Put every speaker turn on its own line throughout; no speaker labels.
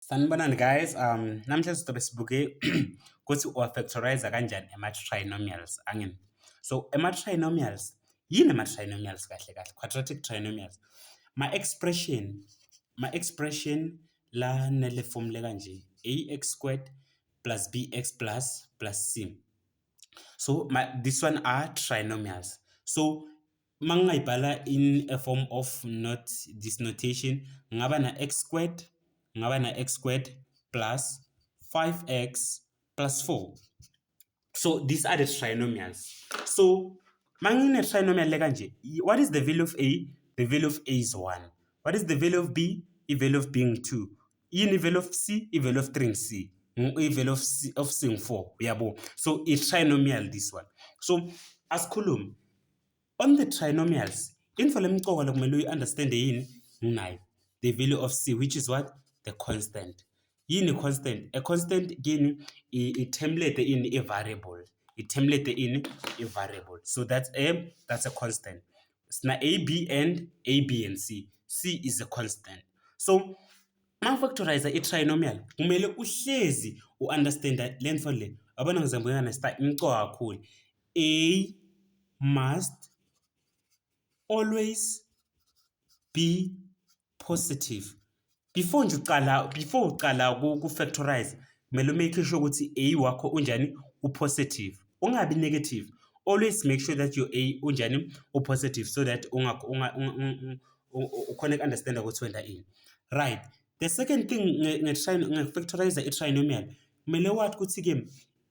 Sanibonani guys, um, namhlanje sizobe sibuke ukuthi uwafactorize kanjani ama-trinomials angini. So ama-trinomials, yini ama-trinomials kahle kahle? Quadratic trinomials. Ma-expression, ma-expression la nele formula kanje, ax squared plus bx plus plus c. So ma, this one are trinomials. So Uma ngingayibhala in a form of not this notation ngaba na x squared ngaba na x squared plus 5x plus 4 so these are the trinomials so mangine trinomial le kanje what is the value of a the value of a is 1 what is the value of b i value of b ngi 2 yini i value of c i value of 3 ngi c i value of c of c ngi 4 uyabo so i trinomial this one so asikhulume On the trinomials, intfo lemcoka lokumele uyi-understande yini? Nginayo. The value of c which is what? The constant. Yini constant? A constant kini i-template ini i-variable. I-template ini i-variable. So that's a, that's a constant. Sina a, b and a, b and c. c is a constant. So mangifactorize i-trinomial kumele uhlezi u-understanda le ntfo le. Yabona ngizambuyana star imcoka kakhulu. A must always be positive. Before nje uqala before uqala ku factorize kumele make sure ukuthi A wakho unjani u positive. Ungabi negative. Always make sure that your A unjani u positive so that ungakho unga ukhona understand ukuthi wenda ini. Right. The second thing nge factorize i trinomial kumele wathi ukuthi ke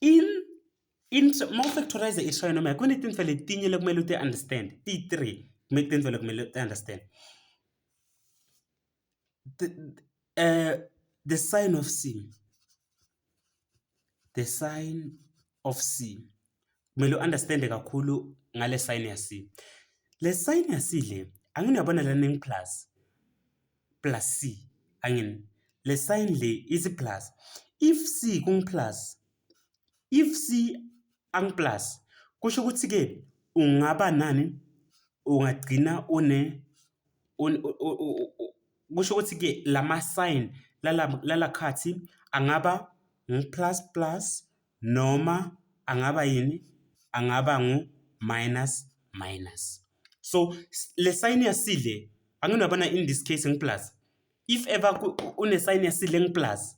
in in uma ufactorize i-trinomial kunetintfo letinye lekumele uti-understand ti-three kumele tintfo lekumele uti-understand the, uh, the sign of c the sign of c kumele u-understande kakhulu ngale sign ya c le sign ya c le anginiyabona lana plus plus c angini le sign le ithi plus if c kungi plus if c angi plus kusho ukuthi ke ungaba nani ungagcina une kusho ukuthi ke lama sign lala lala khathi angaba ngi plus plus noma angaba yini angaba ngu minus minus so le sign yasile anginabana in this case ngiplus if ever une sign yasile ngiplus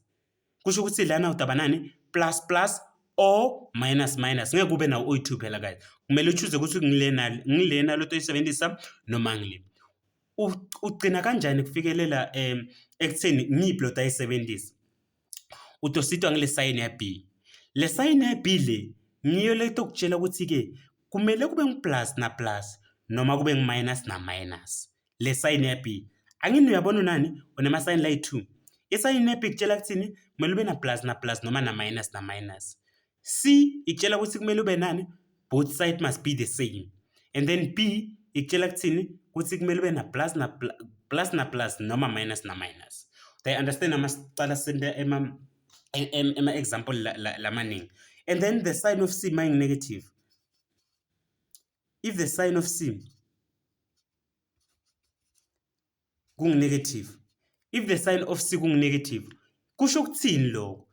kusho ukuthi lana udaba nani plus plus or minus minus ngeke kube nawo oyi-2 phela guys kumele uchuze ukuthi ngilena ngilena lento oyisebenzisa noma ngile ugcina kanjani kufikelela um ekutheni ngiyiphi lota ayisebenzisa utositwa ngile sayini ya B. Le sayini ya B le ngiyo letokutshela ukuthi-ke kumele kube ngu-plus na plus noma kube ngu-minus na minus. Le sayini ya B angini uyabona unani unemasayini layi-two. Isayini ya B kutshela kuthini kumele ube na plus na plus noma na minus na minus. C ikutshela ukuthi kumele ube nani both side must be the same and then B ikutshela kuthini ukuthi kumele ube na plus na plus na plus noma minus na minus they understand amacala sente ema ema example lamaningi and then the sign of C maying negative if the sign of C kunginegative if the sign of c kunginegative kusho ukuthini lokho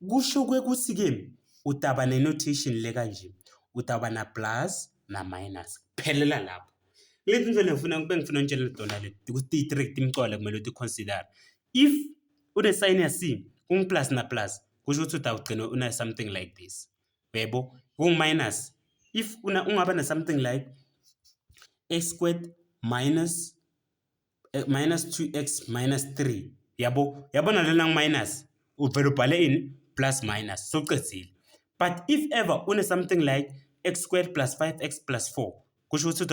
kusho kwekuthi ke utaba nenotation le kanje utaba na plus na minus phelela lapho lezi nto lengifuna bengifuna ngitshele dona le ukuthi i-trick imcwala kumele ukuthi consider if une sign ya c kungi plus na plus kusho ukuthi utawugcina una something like this uyaybo kungu minus if una ungaba na something like a squared minus eh, minus 2x minus 3 yabo yabona lena ngu minus uvela ubhale ini plus minus soqedile but if ever une something like x squared plus 5x plus 4 kusho ukuthi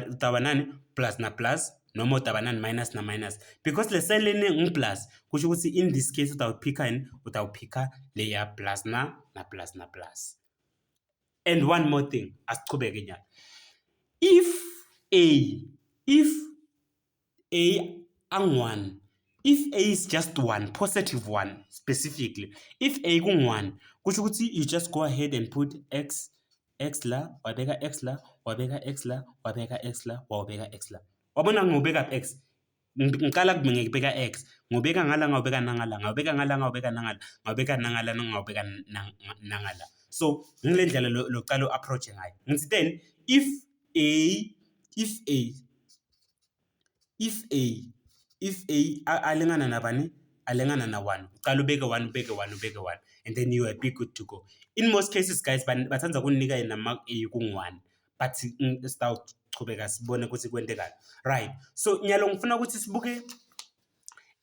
udaba nani plus na plus noma udaba nani minus na minus because le sign leni ngiplus kusho ukuthi in this case utawuphikha yini utawuphikha leya plus na na plus na plus and one more thing asichubeke nyalo if a if a angu-1 if a is just one positive one specifically if a kungu-1 kusho ukuthi you just go ahead and put x x la wabeka x la wabeka x la wabeka x la wawubeka x la wabona ngobeka x ngiqala kubinge ngibeka x ngobeka ngala ngawubeka nangala ngawubeka ngala ngawubeka nangala ngawubeka nangala ngawubeka nangala so ngile ndlela lokuqala u-approach ngayo ngithi then if a if a if a if a alingana nabani alingana na one uqala ubeke one ubeke one ubeke one and then you are be good to go in most cases guys bathanda ukunika yena mark a kungu-one but sitawuchubeka sibone ukuthi kwentekani right so nyalo ngifuna ukuthi sibuke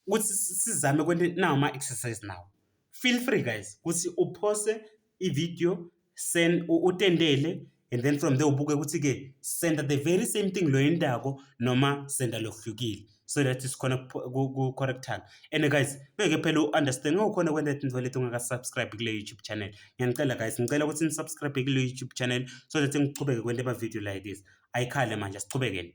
ukuthi sizame kwento nawo ama exercise nawo feel free guys ukuthi uphose ivideo send utendele and then from there ubuke ukuthi ke senda the very same thing lo yendako noma senda lokuhlukile so that sikhona ku-correctana and guys ngeke phela u-understand ngawukhona kwenta tinto leti ungaka-subscribe kule youtube channel ngiyanicela guys ngicela ukuthi nisubscribe kule youtube channel so that ngichubeke kwenta ama-video like this ayikhale manje asichubekeni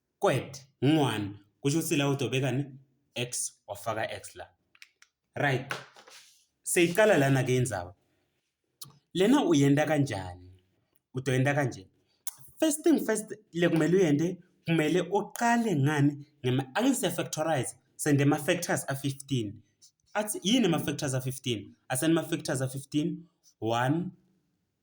Kwet, ngwan, kusho ukuthi la udobekani x wafaka x la right seyiqala lana ke indaba lena uyenda kanjani udoyenda kanje first thing first le kumele uyende kumele uqale ngani ngema angise factorize sende ama factors a 15 athi yini ama factors a 15 asani ama factors a 15 1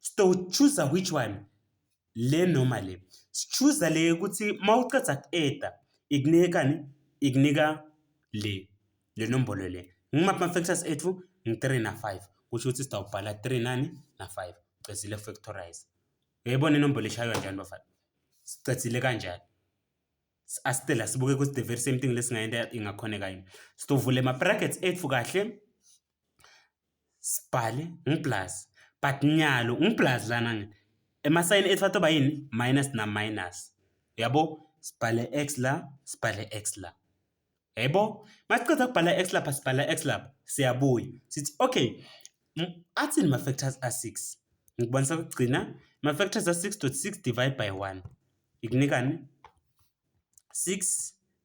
Sitowuchuza which one? Le noma le. Sichuza le yokuthi uma uceda ku-eda ikunikani? Ikunika le, le nombolo le. Ngimaphi ama-factors ethu? Ngi-three na-five. Kusho ukuthi sitawubhala three nani na-five. Ucedzile factorize. Uyayibona inombolo eshaywa njani bafana? Sicedzile kanjani? Asicela sibuke ukuthi the very same thing lesingayenda ingakhoneka yini. Sitovula ama-brackets ethu kahle. sibhale ngiblaz but nyalo ngiblaz lana ngithi emasayini ethu atoba yini minus na minus uyabo sibhale x la sibhale x la yebo masiqeda kubhala x lapha sibhala x lapha siyabuya sithi okay athini ma factors a 6 ngikubonisa ukugcina ma factors a 6.6 divide by 1 ikunikani 6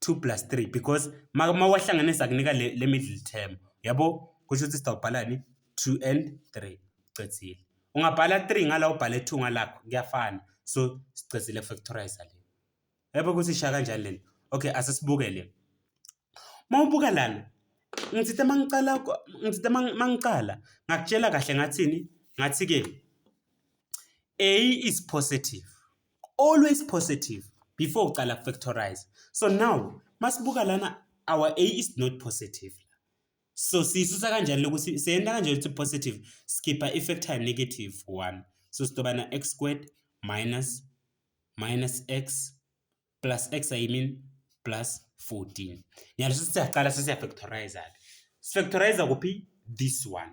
2 plus 3 because uma wahlanganisa kunika le, le middle term yabo kusho ukuthi sitawubhalani 2 and 3 cedzile ungabhala 3 ngala ubhale 2 ngalakho kuyafana so sicedzile factorize le yabo ukuthi isha kanjani lento okay asisibuke le uma ubuka lana ngithithe mangicala ngithithe mangicala ngakutshela kahle ngathini ngathi ke a is positive always positive before uqala factorize so now masibuka lana our a is not positive so siyisusa kanjani lokuthi seyenta kanjani ukuthi positive skipper i-factor negative 1 so sitobana x squared minus minus x plus x i mean plus 14 ngiyalo sesiyaqala sesiyafactorize-ke sifactorize kuphi this one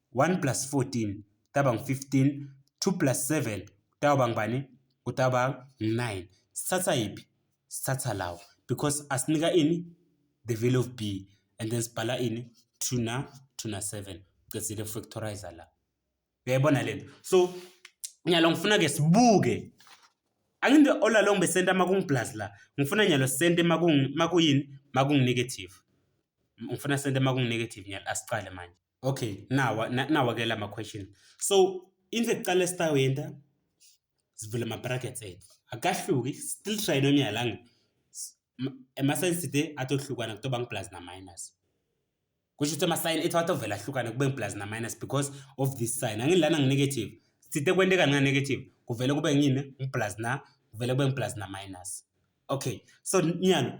1 plus 14 kutaba ngu-15 2 plus 7 kutawuba ngubani kutawuba ngu-9 sithatha yiphi sithatha lawo because asinika ini the value of b and then sibhala ini 2 na 2 na 7 cedzile factorizer la uyayibona lento so nyalo ngifuna ke sibuke anginde ola long besenta makungi plus la ngifuna nyalo sente makungi makuyini makungi negative ngifuna sente makungi negative nyalo asiqale manje Okay, nawa na- nawa ke lama question. So into ekuqala esitawenta sivula ama brackets ethu. Akahluki still trinomial ang ama signs today atohlukana kutoba ngi plus na minus. Kusho ukuthi ama sign ethu atovela ahlukane kube ngi plus na minus because of this sign. Angilana ngi negative. Sithe kwenteka nga negative kuvele kube ngini ngi plus na kuvele kube ngi plus na minus. Okay. So nyalo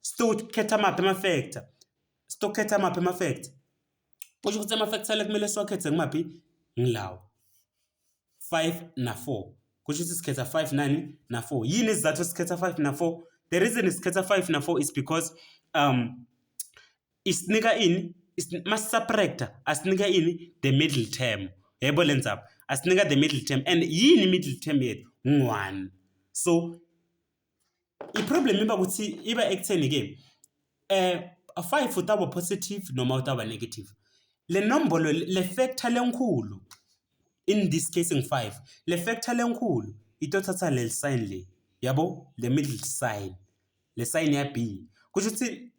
Sitokhetha maphi ama-factor? Sitokhetha maphi ama-factor? Kusho ukuthi ama-factor la kumele siwakhethe ngimaphi? Ngilawa. 5 na 4. Kusho ukuthi sikhetha 5 nani na 4. Yini isizathu sikhetha 5 na 4? The reason sikhetha 5 na 4 is because um isinika ini? Masisubtractor asinika ini? The middle term. Yebo lenzaba. Asinika the middle term and yini middle term yethu? 1. So i-problem iba ukuthi iba ekutheni-ke eh five utaba positive noma utaba negative le nombolo le factor lenkhulu in this case ngi-five le factor lenkhulu itothatha leli sign le yabo le middle sign le sign ya b kusho ukuthi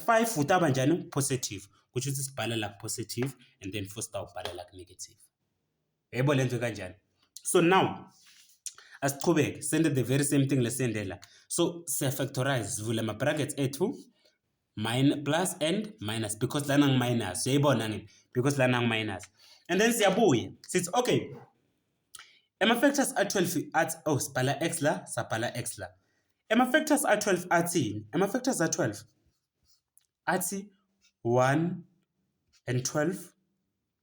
five utaba njani positive kusho ukuthi sibhala la positive and then futhi sitawubhala la negative yebo lento kanjani so now asiqhubeke sende the very same thing lesende la so siyafactorize sivule ama-brackets ethu min plus and minus because lana ngiminus uyayibona ngini because lana ngiminus and then siyabuya sithi okay ama-factors a-12 athi oh sibhala x la sabhala x la ama-factors a-12 athini ama-factors a-12 athi 1 and 12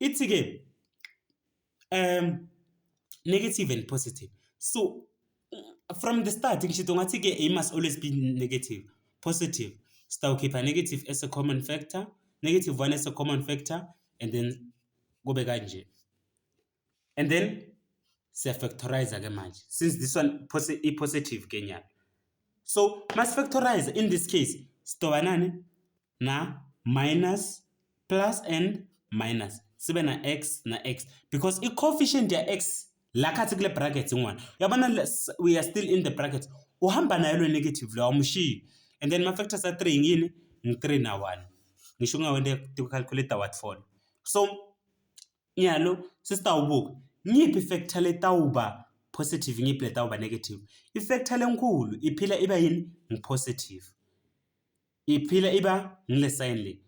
Ithi ke um negative and positive. So from the start ngisho ngathi ke it must always be negative positive sitawukhipha negative as a common factor negative one as a common factor and then kube kanje and then siyafactorize ke manje since this one i-positive ke nyalo so masifactorize in this case sitoba nani na minus plus and minus sibe na x na x because i-coefficient ya x la khathi kule bracket ingwana uyabona we are still in the bracket uhamba nayo lo negative lo awumshiyi and then ma-factors a-three ngini ngi-three na one ngisho ungawende calculator what for so nyalo sesitawubuka ngiphi ifactor letawuba positive ngiphi letawuba negative ifactor lenkulu iphila iba yini ngipositive iphila iba ngile sign le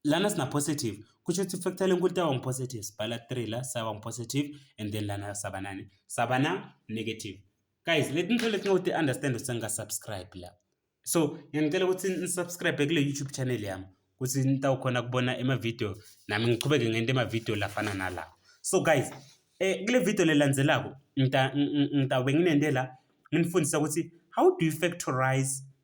lana sina positive kusho ukuthi factor lenkulu taba ngipositive sibhala 3 la saba ngipositive and then lana saba nani saba na negative guys leti nto leti ngoti understand ukuthi nga subscribe la so ngiyangicela ukuthi nisubscribe kule youtube channel yami ukuthi nitawukhona kubona emavideo nami ngichubeke ngente emavideo lafana nala so guys eh kule video lelandzelako ngitawube nginente la nginifundisa ukuthi how do you factorize